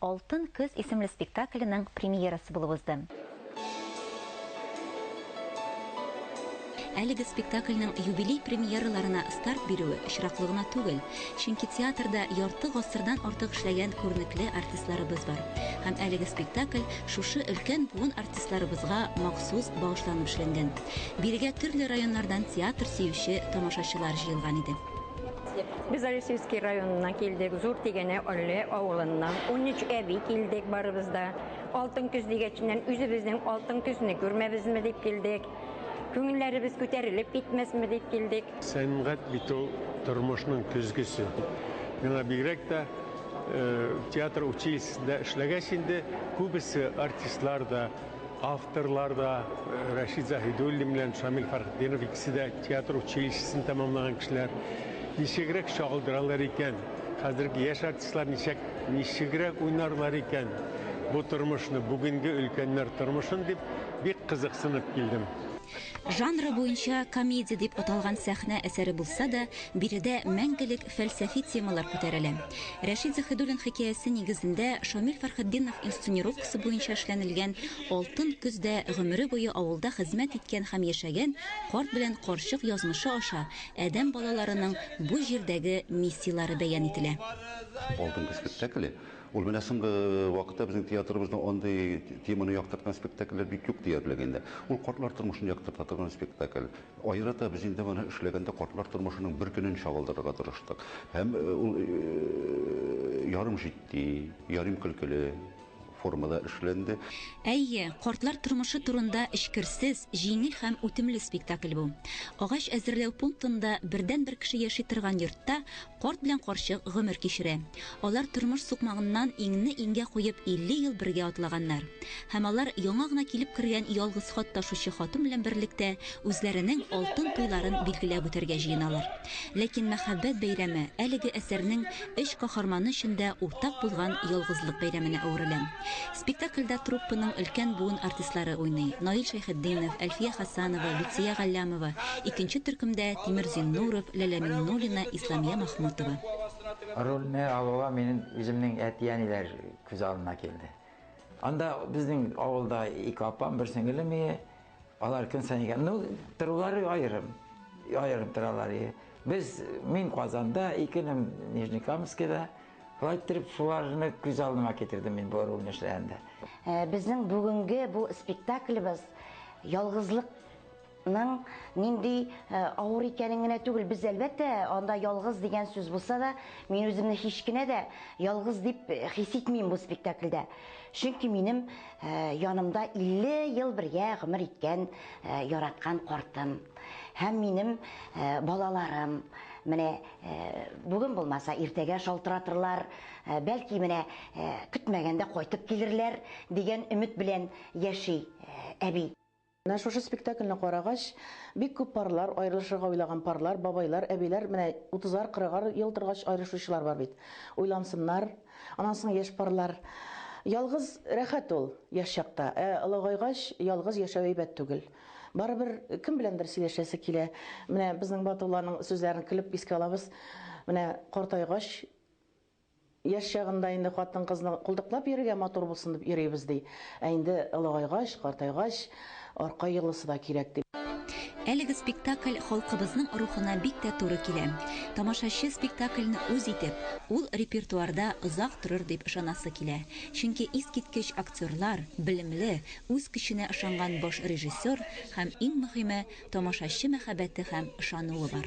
Алтын көз исемле спектакленең премьерасы булып узды. Әлеге спектакльнең юбилей премьераларына старт бирүе очраклы гына түгел, чөнки театрда ярты гасырдан артык эшләгән күренекле артистларыбыз бар һәм әлеге спектакль шушы өлкән буын артистларыбызга махсус багышланып эшләнгән. Бирегә төрле районнардан театр сөюче тамашачылар җыелган иде. Без Алексеевский районына килдек, Зур Тигәнә Олле авылыннан. 13 әби килдек барыбыз да. Алтын көз дигәченнән үзебезнең алтын көзне күрмәбезме дип килдек. Күңелләребез күтәрелеп китмәсме дип килдек. Сәнгать бит ул тормышның көзгесе. Миңа бигрәк тә театр училищесында эшләгәч инде күбесе артистлар да, Авторлар да Рәшид Заһидуллин белән Шамил Фәрхетдинов икесе дә театр училищесын тәмамлаган кешеләр. Ничегрәк чагылдыралар икән? Хәзерге яшь артистлар ничек ничегрәк уйнарлар икән бу тормышны, бүгенге өлкәннәр тормышын дип бик кызыксынып килдем. Жанры буенча комедия дип аталган сәхнә әсәре булса да, биредә мәңгелек фәлсәфи темалар күтәрелә. Рәшит Заһидуллин хикәясе нигезендә Шамил Фәрхетдинов инсценировкасы буенча эшләнелгән Алтын көз дә гомере буе авылда хезмәт иткән һәм яшәгән карт белән карчык язмышы аша адәм балаларының бу җирдәге миссияләре бәян ителә. Алтын көз спектакле, ул менә соңгы вакытта безнең театрыбызда андый теманы яктырткан спектакльләр бик юк диярлек инде. Ул картлар тормышын яктырта торган спектакль. Аерата без инде моны эшләгәндә картлар тормышының бер көнен чагылдырырга тырыштык. Һәм ул ярым җитди, ярим көлкеле формада эшләнде. Әйе, картлар тормышы турында эчкерсез, җиңел һәм үтемле спектакль бу. Агач әзерләү пунктында бердәнбер кеше яши торган йортта Карт белән карчык гомер кичерә. Алар тормыш сукмагыннан иңне-иңгә куеп 50 ел бергә атлаганнар. Һәм алар яңа гына килеп кергән ялгыз хат ташучы хатын белән берлектә үзләренең алтын туйларын билгеләп үтәргә җыеналар. Ләкин мәхәббәт бәйрәме әлеге әсәрнең өч каһарманы өчен дә уртак булган ялгызлык бәйрәменә әверелә. Спектакльдә труппаның өлкән буын артистлары уйный, Наил Шәйхетдинов, Әлфия Хасанова, Люция Галләмова, икенче төркемдә, Тимер Зиннуров, Ләлә Миңнуллина, Исламия Махмутова. Рольне алуга минем үземнең әти-әниләр күз алдына килде. Анда безнең авылда ике апам, бер сеңелем ие. Алар көн саен икән. Ну, торулары аерым. Аерым торалар ие. Без, мин Казанда, икенем Нижнекамскида. Болай иттереп шуларны күз алдыма китердем мин бу рольне эшләгәндә. Э, безнең бүгенге бу спектаклебез ялгызлыкның нинди э, авыр икәнен генә түгел, без әлбәттә анда ялгыз дигән сүз булса да, мин үземне һич кенә дә ялгыз дип э, хис итмим бу спектакльдә. Чөнки минем янымда 50 ел бергә гомер иткән яраткан картым һәм минем балаларым, менә Бүген булмаса, иртәгә шалтыратырлар, бәлки менә көтмәгәндә кайтып килерләр, дигән өмет белән яши әби. Менә шушы спектакльне карагач, бик күп парлар, аерылышырга уйлаган парлар, бабайлар, әбиләр, менә утызар, кырыгар ел торгач аерышучылар бар бит. Уйлансыннар. Аннан соң яшь парлар. Ялгыз рәхәт ул, яшь чакта. Ә олыгайгач, ялгыз яшәү әйбәт түгел. Барыбер кем беләндер сөйләшәсе килә. Менә безнең Батулланың сүзләрен көлеп искә алабыз. Менә картайгач, яшь чагында инде хатын-кызны култыклап йөрергә матур булсын дип йөрибез, ди. Ә инде олыгайгач, картайгач, арка йолысы да кирәк, ди. Әлеге спектакль халкыбызның рухына бик тә туры килә. Тамашачы спектакльне үз итеп, ул репертуарда озак торыр дип ышанасы килә. Чөнки искиткеч актерлар, белемле, Үз көченә ышанган баш режиссер һәм, иң мөһиме, тамашачы мәхәббәте һәм ышануы бар.